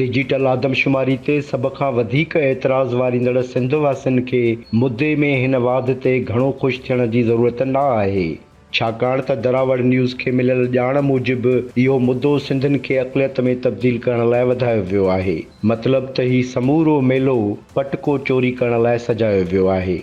Digital آدمشماري تي سڀ کان وڌيڪ اعتراض واريندڙ سنڌ واسين کي مدي ۾ هن واڌ تي گهڻو خوش ٿيڻ جي ضرورت نه آهي ڇاڪاڻ ته دراوڙ نيوز کي مليل ڄاڻ موجب اهو مدو سنڌين کي اقليت ۾ تبديل ڪرڻ لاء وڌايو ويو آهي مطلب ته هي سمورو ميلو پٽڪو چوري ڪرڻ لاء سجايو ويو آهي.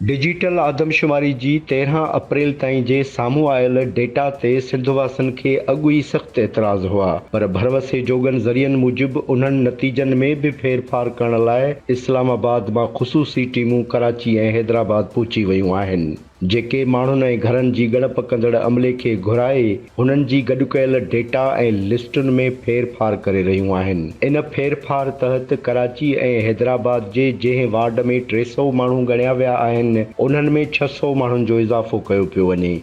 ڊجيٽل آدمشماري جي تيرهن اپريل تائين جي سامهون آيل ڊيٽا تي سنڌ واسين کي اڳ ئي سخت اعتراض هئا پر ڀروسي جوڳن ذريعن موجب انهن نتيجن ۾ به ڦيرڦار ڪرڻ لاء اسلام آباد مان خصوصي ٽيمون ڪراچي ۽ حيدرآباد پهچي ويون آهن، جيڪي ماڻهن ۽ گهرن جي ڳڻپ ڪندڙ عملي کي گهرائي هنن جي گڏ ڪيل ڊيٽا ۽ لسٽن ۾ ڦير ڦار ڪري رهيون آهن. ان ڦير ڦار تحت ڪراچي ۽ حيدرآباد جي جنهن وارڊ ۾ ٽي سؤ ماڻهو ڳڻيا ويا آهن، انهن ۾ ڇهه سؤ ماڻهن جو اضافو ڪيو پيو وڃي.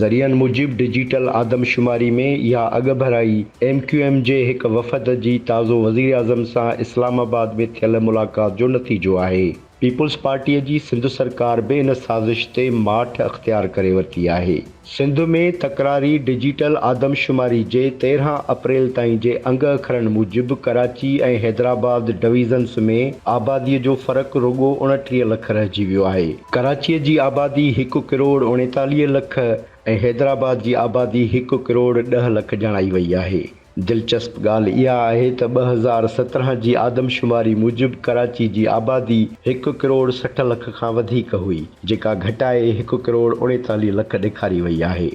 ذريعن موجب ڊجيٽل آدمشماري ۾ اها اڳڀرائي ايم ڪيو ايم جي هڪ وفد جي تازو وزيراعظم سان اسلام آباد ۾ ٿيل ملاقات جو نتيجو آهي. پيپلز پارٽيء جي سنڌ سرڪار به ان سازش تي ماٺ اختيار ڪري ورتي آهي. سنڌ ۾ تڪراري ڊجيٽل آدمشماري جي تيرهن اپريل تائين جي انگ اکرن موجب ڪراچي ۽ حيدرآباد ڊويزنز ۾ آباديء جو فرق رڳو اڻٽيهه لک رهجي ويو آهي. ڪراچيء جي آبادي هڪ ڪروڙ اڻيتاليهه لک ۽ حيدرآباد جي آبادي هڪ ڪروڙ ڏهه لک ڄاڻائي وئي آهي. دلچسپ ڳالهه اها آهي ته ٻه هزار سترهن جي آدمشماري موجب ڪراچي جي آبادي هڪ ڪروڙ سٺ لک کان وڌيڪ هئي، جيڪا گهٽائي هڪ ڪروڙ اڻيتاليهه لک ڏيکاري وئي آهي.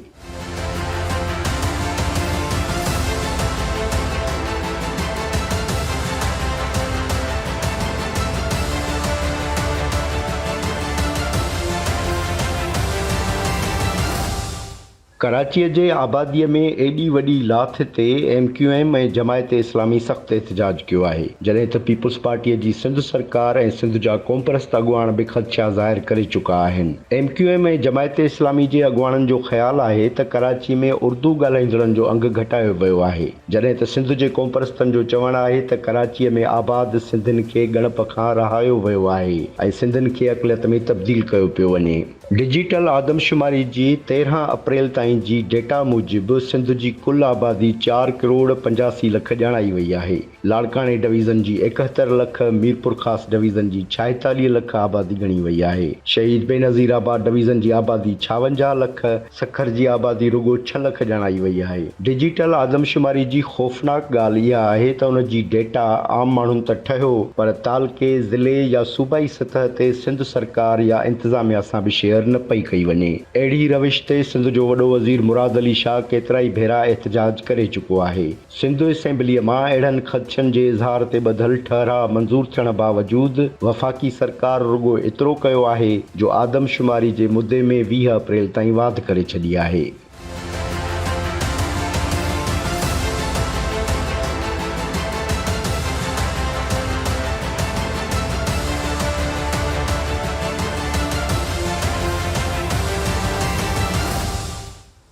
ڪراچيء جي آباديء ۾ ايڏي وڏي لاٿ تي M Q M ۽ Jamaat Islami سخت احتجاج ڪيو آهي، جڏهن ته پيپلز پارٽيء جي سنڌ سرڪار ۽ سنڌ جا قومپرست اڳواڻ به خدشا ظاهر ڪري چڪا آهن. M Q M ۽ Jamaat Islami جي اڳواڻن جو خيال آهي ته ڪراچي ۾ اردو ڳالهائيندڙن جو انگ گهٽايو ويو آهي جڏهن ته سنڌ جي قومپرستن جو چوڻ آهي ته ڪراچي ۾ آباد سنڌين کي ڳڻپ کان رهايو ويو آهي ۽ سنڌين کي اقليت ۾ تبديل ڪيو پيو وڃي. ڊجيٽل آدمشماري جي تيرهن اپريل تائين جي ڊيٽا موجب سنڌ جي ڪل آبادي چار ڪروڙ پنجاسي لک ڄاڻائي وئي آهي لاڙڪاڻي ڊويزن جي ايڪهتر لک، ميرپورخاص ڊويزن جي ڇاهيتاليهه لک آبادي ڳڻي وئي آهي. شهيد بينظير آباد ڊويزن جي آبادي ڇاونجاهه لک، سکر جي آبادي رڳو ڇهه لک ڄاڻائي وئي آهي. ڊجيٽل آدمشماري جي خوفناڪ ڳالهه اها آهي ته ان جي ڊيٽا عام ماڻهن ته ٺهيو پر تعلقي، ضلعي يا صوبائي سطح تي سنڌ سرڪار يا انتظاميا سان به شيئر نه پئي ڪئي وڃي. اهڙي روش تي سنڌ جو وڏو وزير مراد علي شاهه ڪيترائي ڀيرا احتجاج ڪري چڪو آهي. سنڌ اسيمبليء مان اهڙن خدشن جي اظهار تي ٻڌل ٺهراء منظور ٿيڻ باوجود وفاقي سرڪار رڳو ايترو ڪيو آهي جو آدمشماري جي مدي ۾ ويهه اپريل تائين واڌ ڪري ڇڏي آهي.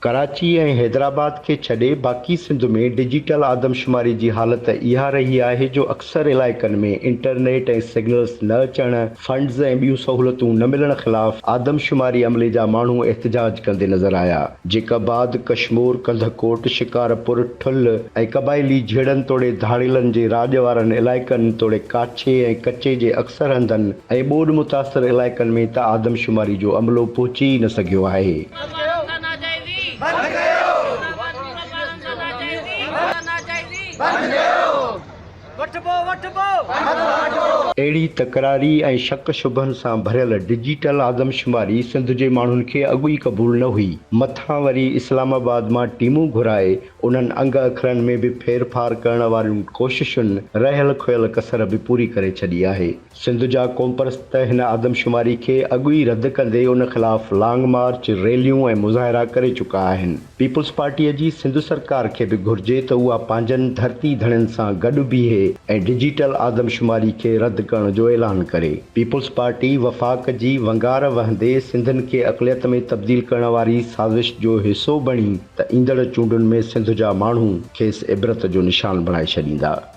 ڪراچي ۽ حيدرآباد کي ڇڏي باقي سنڌ ۾ ڊجيٽل آدمشماري جي حالت اها رهي آهي جو اڪثر علائقن ۾ انٽرنيٽ ۽ سگنلز نه اچڻ، فنڊز ۽ ٻيون سهولتون نه ملڻ خلاف آدمشماري عملي جا ماڻهو احتجاج ڪندي نظر آيا، جيڪب آباد، ڪشمور، ڪنڌڪوٽ، شڪارپور، ٺل ۽ قبائلي جهيڙن توڙي ڌاڙيلن جي راڄ وارن علائقن توڙي ڪاڇي ۽ ڪچي جي اڪثر هنڌن ۽ ٻوڏ متاثر علائقن ۾ ته آدمشماري جو عملو پهچي ئي نه سگهيو آهي. اهڙي تڪراري ۽ شڪ شبهن سان ڀريل ڊجيٽل آدمشماري سنڌ جي ماڻهن کي اڳ ئي قبول نه هئي، مٿان وري اسلام آباد مان ٽيمون گهرائي انهن انگ اکرن ۾ به ڦيرڦار ڪرڻ وارين ڪوششن رهيل کهيل ڪسر به پوري ڪري ڇڏي آهي. سنڌ جا قومپرست هن آدمشماري کي اڳ ئي رد ڪندي ان خلاف لانگ مارچ، ريليون ۽ مظاهرا ڪري چڪا آهن. پيپلز پارٽيء جي سنڌ سرڪار کي به گهرجي ته اها پنهنجن ڌرتي ڌڻين سان گڏ بيهي ۽ ڊجيٽل آدمشماري کي رد ڪرڻ جو اعلان ڪري. پيپلز پارٽي وفاق جي ونگار وهندي سنڌين کي اقليت ۾ تبديل ڪرڻ واري سازش جو حصو بڻي ته ايندڙ چونڊن ۾ سنڌ جا ماڻهو کيس عبرت جو نشان بڻائي ڇڏيندا.